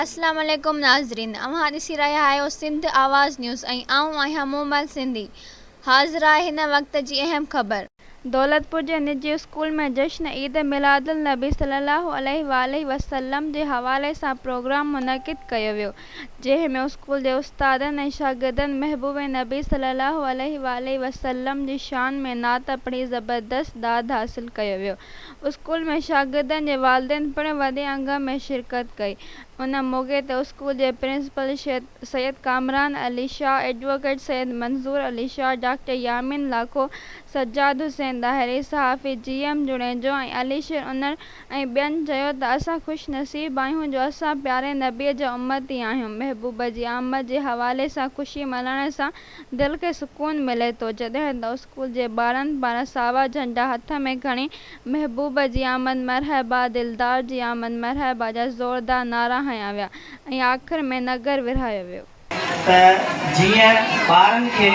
السلام عليڪم ناظرين اوهان ڏسي رهيا آهيو سنڌ آواز نيوز ۽ آئون آهيان مومل سنڌي حاضر آهي هن وقت جي اهم خبر. دولتپور جي نجي اسڪول ۾ جشن عيد ميلادالنبي صلي الله عليه واٰله وسلم جي حوالي سان پروگرام منعقد ڪيو ويو جنهن ۾ اسڪول جي استادن ۽ شاگردن محبوب نبي صلي الله عليه واٰله وسلم جي شان ۾ نعت پڙهي زبردست داد حاصل ڪيو ويو اسڪول ۾ شاگردن جي والدين پڻ وڏي انگ ۾ شرڪت ڪئي ان موقعي تي اسڪول جي principal Syed Kamran Ali Shah advocate Syed Manzoor Ali Shah doctor Yamin Lakho Sajjad Hussain Dahri صحافي جي ايم جوڻيجو ۽ علي شير انڙ ۽ ٻين چيو ته اسان خوش نصيب آهيون جو اسان پياري نبي جا امتي آهيون، محبوب جي آمد جي حوالي سان خوشي ملهائڻ سان دل کي سڪون ملي ٿو، جڏهن ته اسڪول جي ٻارن پاران ساوا جهنڊا هٿ ۾ کڻي محبوب جي آمد مرحبا، دلدار جي آمد مرحبا جا زوردار نعرا هنيا ويا ۽ آخر ۾ نگر ورهايو ويو. ته جيئن ٻارن کي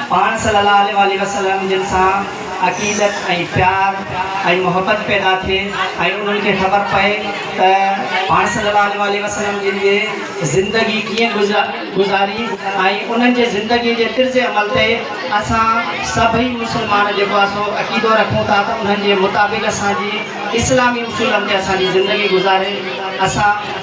پاڻ صلّي اللّٰه عليه واٰله وسلّم جن سان عقيدت ۽ پيار ۽ محبت پيدا ٿئي ۽ انهن کي خبر پئي ته پاڻ صلّي اللّٰه عليه واٰله وسلّم جن جي زندگي ڪيئن گذاري ۽ انهن جي زندگي جي طرز عمل تي اسان سڀئي مسلمان جيڪو آهي سو عقيدو رکون ٿا ته انهن جي مطابق اسان جي اسلامي اصولن تي اسان جي زندگي گذاري اسان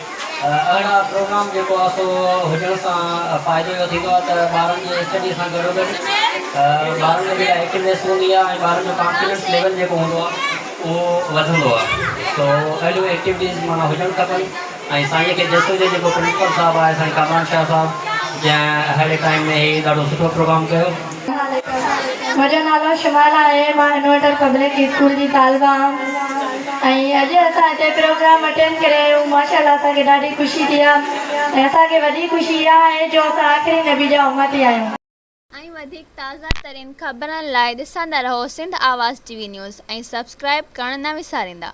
اهڙا پروگرام جيڪو آهي سو هجڻ سان فائدو اهو ٿيندو آهي ته ٻارن جي اسٽڊي سان گڏو گڏ ٻارن ۾ جيڪا ايڪٽونيس هوندي آهي ۽ ٻارن جو ڪانفيڊنس ليول جيڪو هوندو آهي اهو وڌندو آهي سو اهڙيون ايڪٽيوٽيز معنيٰ هجڻ کپن ۽ سائين کي جس هجي جيڪو پرنسپل صاحب آهي سائين ڪامران شاهه صاحب جنهن اهڙي ٽائيم ۾ هي ڏاڍو سٺو پروگرام ڪيو منهنجو نالو شمال آهي مان انورٽر پبلڪ اسڪول جي طالبه هام ۽ اڄ اسان هتي پروگرام اٽينڊ ڪري آيون ماشاءالله اسان کي ڏاڍي خوشي ٿي آ ۽ اسان کي وڌيڪ خوشي اها آهي جو اسان آخري نبي جا امتي آهيون. ۽ وڌيڪ تازه ترين خبرن لاء ڏسندا رهو Sindh Awaz T V news ۽ subscribe ڪرڻ نه وساريندا.